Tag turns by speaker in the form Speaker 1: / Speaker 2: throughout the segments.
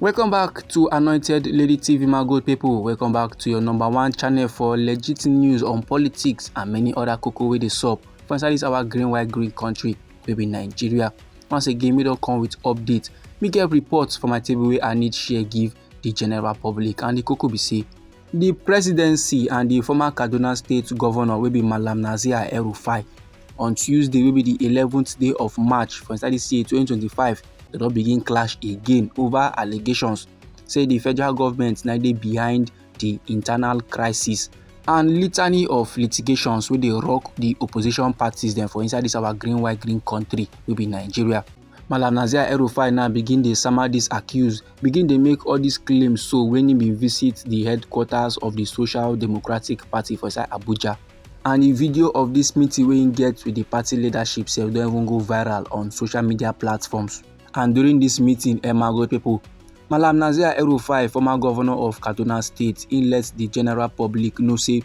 Speaker 1: welcome back to anointed lady tv my good people welcome back to your number one channel for legit news on politics and many other cocoa wey dey sup for inside this our green white green country wey be nigeria once again we don come with update me get reports for my table wey i need share give the general public and the cocoa be say di presidency and di former kaduna state govnor wey be malam nasir el-rufai on tuesday wey be di eleventh day of march for inside dis year twenty twenty five dem don begin clash again over allegations say di federal government na dey behind di internal crisis and litany of litigations wey dey rock di opposition parties dem for inside dis our green white green country wey be nigeria. Malam Nazir El-Rufai now begin dey sama dis accuse, begin dey make all dis claims so when he bin visit the headquarters of the Social Democratic Party for inside Abuja. And the video of dis meeting wey he get with the party leadership sef don even go viral on social media platforms. And during dis meeting, Emago people, Malam Nazir El-Rufai, former governor of Kaduna State, he let the general public know say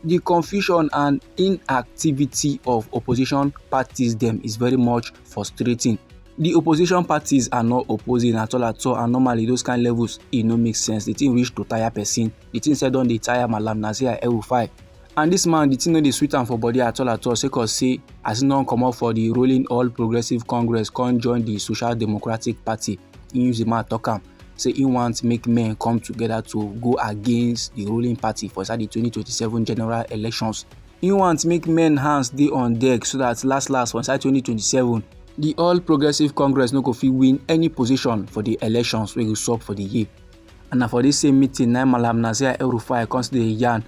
Speaker 1: the confusion and inactivity of opposition parties dem is very much frustrating the opposition parties are not opposing at all at all and normally those kind levels e no make sense the thing reach to tire person the thing sef don dey tire malam nasir el-rufai and this man the thing no dey sweet am for body at all at all sake of say as he don comot for the ruling all progressives congress come join the social democratic party he use the mouth talk am say he want make men come together to go against the ruling party for inside the 2027 general elections Im want make men hands dey on deck so that last last for inside 2027, the All Progressive Congress no go fit win any position for the elections wey go sup for the year. And na for this same meeting na Malam Nasir El-Rufai come still dey yarn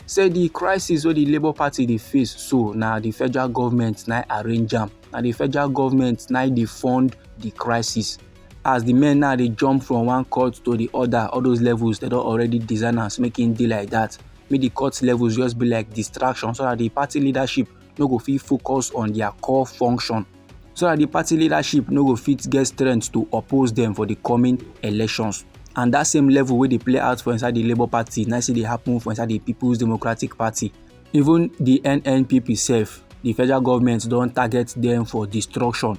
Speaker 1: say the crisis wey the Labour Party dey face so na the federal government na arrange am. Na the federal government na dey fund the crisis. As the men now dey jump from one court to the other, all those levels they don already design am make e dey like that. make the court levels just be like distraction so that the party leadership no go fit focus on their core function so that the party leadership no go fit get strength to oppose them for the coming elections and that same level wey dey play out for inside the labour party na still dey happen for inside the people's democratic party even the nnpp sef the federal government don target them for destruction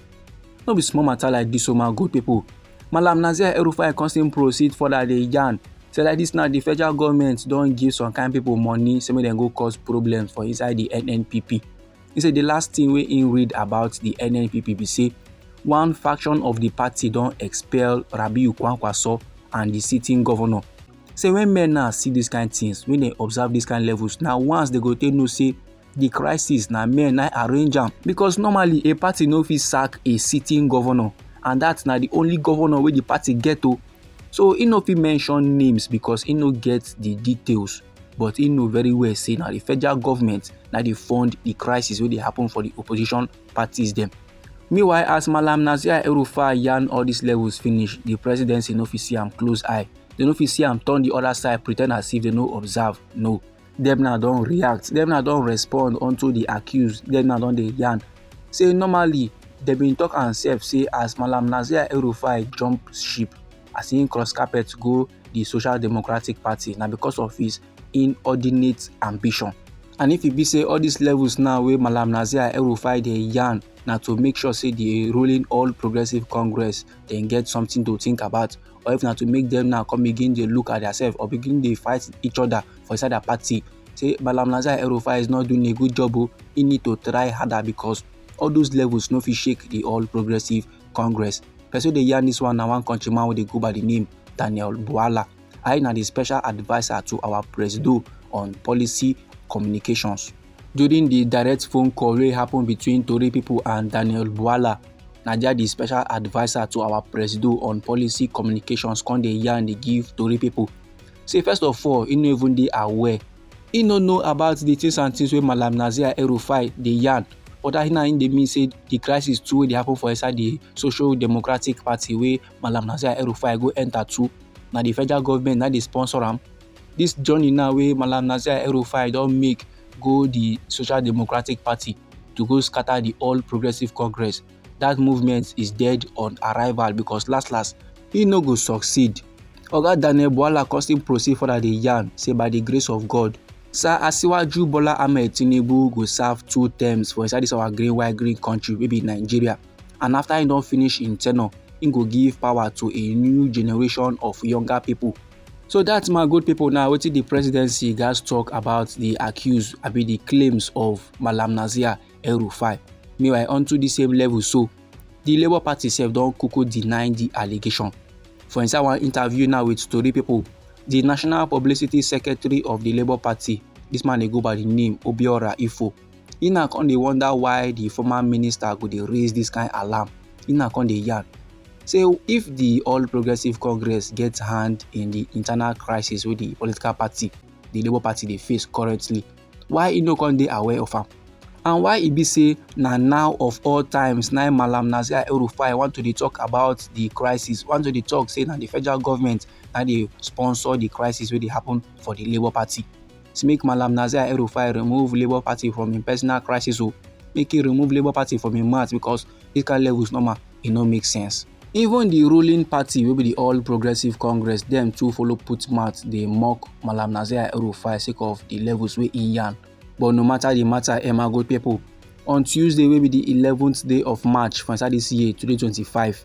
Speaker 1: no be small matter like this o oh my good people Malam Nasir El-Rufai come still proceed further dey yarn say like this now the federal government don give some kind people money say make dem go cause problems for inside the NNPP. He say the last thing wey he read about the NNPP be say one faction of the party don expel Rabiu Kwankwaso and the sitting governor. Say when men now see these kind things, when they observe these kind levels, now once they go take know say the crisis na men na arrange am because normally a party no fit sack a sitting governor and that na the only governor wey the party get o so he no fit mention names because he no get the details but he know very well say na the federal government na dey fund the crisis wey dey happen for the opposition parties dem meanwhile as malam nasir erufa yarn all these levels finish the presidency no fit see am close eye they no fit see am turn the other side pretend as if they no observe no dem now don react dem now don respond unto the accused dem now don dey yarn say normally dem bin talk am sef say as malam nasir el-rufai jump ship as im cross carpet go the social democratic party na because of his inordinate ambition and if e be say all these levels now wey malam nasir el-rufai dey yarn na to make sure say the ruling all progressive congress dem get something to think about or if na to make them now come begin dey look at themselves or begin dey fight each other for inside their party say Malam Nazir El-Rufai is not doing a good job o oh. he need to try harder because all those levels no fit shake the All Progressive Congress person dey yarn this one na one country man wey dey go by the name Daniel Buala I na the special adviser to our presido on policy communications. During di direct phone call wey happen between tori pipo and Daniel Bwala, Naija di special adviser to our presido on policy communications come dey yarn dey give tori pipo say first of all e no even dey aware e no know about di things and things wey Malam Nazir El-Rufai dey yarn but that na im dey mean say di crisis too wey dey happen for inside di social democratic party wey Malam Nazir El-Rufai go enter too na di federal government na dey sponsor am Dis journey now wey Malam Nasir El-Rufai don make go di Social Democratic Party to go scatter di All Progressives Congress, dat movement is dead on arrival because last last, e no go succeed. Oga Daniel Bwala come still proceed further dey yarn say by di grace of God, Sir Asiwaju Bola Ahmed Tinubu go serve two terms for inside dis our green white green country wey be Nigeria and after im don finish im tenure, im go give power to a new generation of younger pipo. So that's my good people now wetin the presidency guys talk about the accused be the claims of Malam Nazir El Rufai. Meanwhile onto the same level so the Labour Party sef don kuku deny the allegation. For inside one interview now with story people, the National Publicity Secretary of the Labour Party, this man dey go by the name Obiora Ifo, e na come dey wonder why the former minister go dey raise this kind alarm e na come dey yarn say if the all progressives congress get hand in the internal crisis wey the political party the labour party dey face currently why e no come dey aware of am and why e be say na now of all times na malam nazir el-rufai want to dey talk about the crisis want to dey talk say na the federal government na dey sponsor the crisis wey dey happen for the labour party say make Malam Nasir El-Rufai remove Labour Party from im personal crisis o, oh. make he remove Labour Party from im mouth because this kind level is normal, e no make sense. Even the ruling party wey be the All Progressive Congress dem too follow put mouth dey mock Malam Nasir El-Rufai sake of the levels wey im yarn. But no matter the matter, Emma go people on Tuesday wey be the eleventh day of March for inside this year 2025,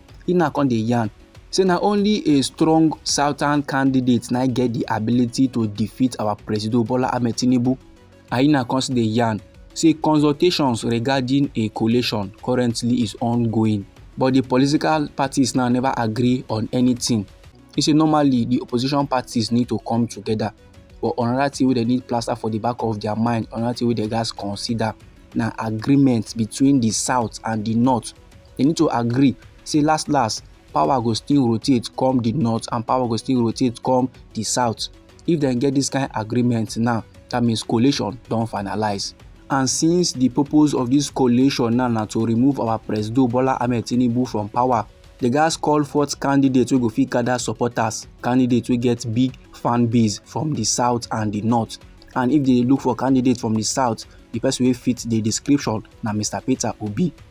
Speaker 1: he now come dey yarn say na only a strong southern candidate na get the ability to defeat our president bola ahmed tinubu and he now come still dey yarn say consultations regarding a coalition currently is ongoing but the political parties now never agree on anything he say normally the opposition parties need to come together but another thing wey dem need plaster for the back of their mind another thing wey dem gats consider na agreement between the south and the north they need to agree say last last power go still rotate come the north and power go still rotate come the south if dem get this kind agreement now that means coalition don finalize and since the purpose of this coalition now na to remove our president bola ahmed tinubu from power the guys call forth candidates wey go fit gather supporters candidates wey get big fan base from the south and the north and if they look for candidates from the south the person wey fit the description na mr peter obi